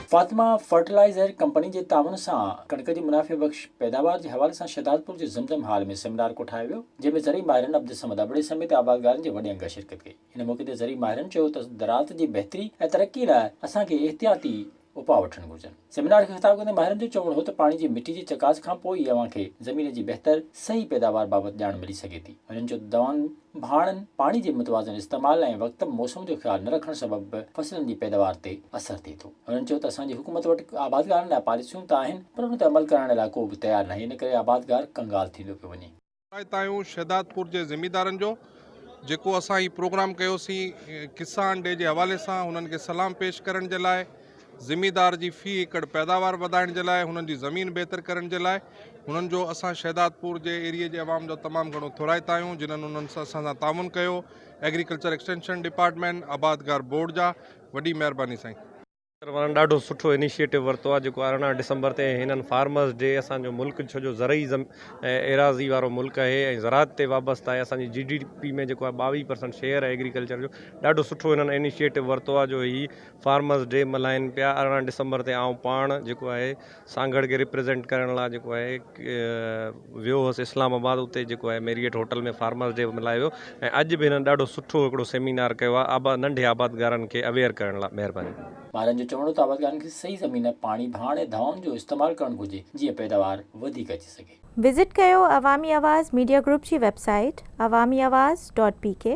Fatima fertilizer company جي تعاون سان ڪڻڪ جي منافعي بخش پيداوار جي حوالي سان شهدادپور جي زمزم هال ۾ سيمينار ڪوٺايو ويو جنهن ۾ زرعي ماهرن عبدالصمد ابڙي سميت آبادگارن جي وڏي انگ شرڪت ڪئي ان موقعي تي زرعي ماهرن چيو ته زراعت جي بهتري ۽ ترقي لاء اسان کي احتياطي اپاء وٺڻ گهرجن. سيمينار کي خطاب ڪندي ماهرن جو چوڻ هو ته پاڻي جي مٽي جي چڪاس کان پوء ئي اوهان کي زمين جي بهتر صحيح پيداوار بابت ڄاڻ ملي سگهي ٿي. هنن چيو ته دوائن، ڀاڻن، پاڻي جي متوازن استعمال ۽ وقت موسم جو خيال نه رکڻ سبب به فصلن جي پيداوار تي اثر ٿئي ٿو. هنن چيو ته اسان جي حڪومت وٽ آبادگارن لاء پاليسيون ته آهن پر ان تي عمل ڪرائڻ لاء ڪو به تيار ناهي ان ڪري آبادگار ڪنگال ٿيندو پيو وڃي. هدايتايون شهدادپور جي زميندارن جو جيڪو اسان هي پروگرام ڪيوسين ڪسان ڊي جي حوالي سان هنن کي سلام پيش ڪرڻ جي لاء زميندار جي في ايڪڙ پيداوار وڌائڻ جي لاء هنن جي زمين بهتر ڪرڻ جي لاء هنن جو اسان شهدادپور جي ايريي جي عوام جو تمام گهڻو ٿورائتا آهيون جنن هنن اسان سان تعاون ڪيو ايگريڪلچر ايڪسٽينشن ڊپارٽمينٽ آبادگار بورڊ جا وڏي مهرباني سائين سيڪٽر وارن ڏاڍو سٺو انيشيٽو ورتو آهي جيڪو ارڙهن ڊسمبر تي هنن فارمرز ڊي اسان جو ملڪ ڇو جو زرعي ايراضي وارو ملڪ اهي ۽ زراعت تي وابسته آهي اسان جي جي ڊي پي ۾ جيڪو آهي ٻاويهه پرسنٽ شيئر آهي ايگريڪلچر جو ڏاڍو سٺو هنن انيشيٽو ورتو آهي جو هي فارمرز ڊي ملهائين پيا ارڙهن ڊسمبر تي آئون پاڻ جيڪو آهي سانگهڙ کي ريپريزنٽ ڪرڻ لاء جيڪو آهي ويو هوس اسلام آباد اتي جيڪو آهي ميريئٽ هوٽل ۾ فارمرس ڊي ملهايو ويو ۽ اڄ به هنن ڏاڍو سٺو هڪڙو سيمينار ڪيو آهي آبا ننڍي آبادگارن کي اويئر ڪرڻ لاء مهرباني. ماهرن جو چوڻ هو ته آبادگارن کي صحيح زمين، پاڻي، ڀاڻ ۽ دوائن جو استعمال ڪرڻ گهرجي جيئن پيداوار وڌيڪ اچي سگهي. وزٽ ڪيو عوامي آواز ميڊيا گروپ جي website Awami Awaz dot P ڪي.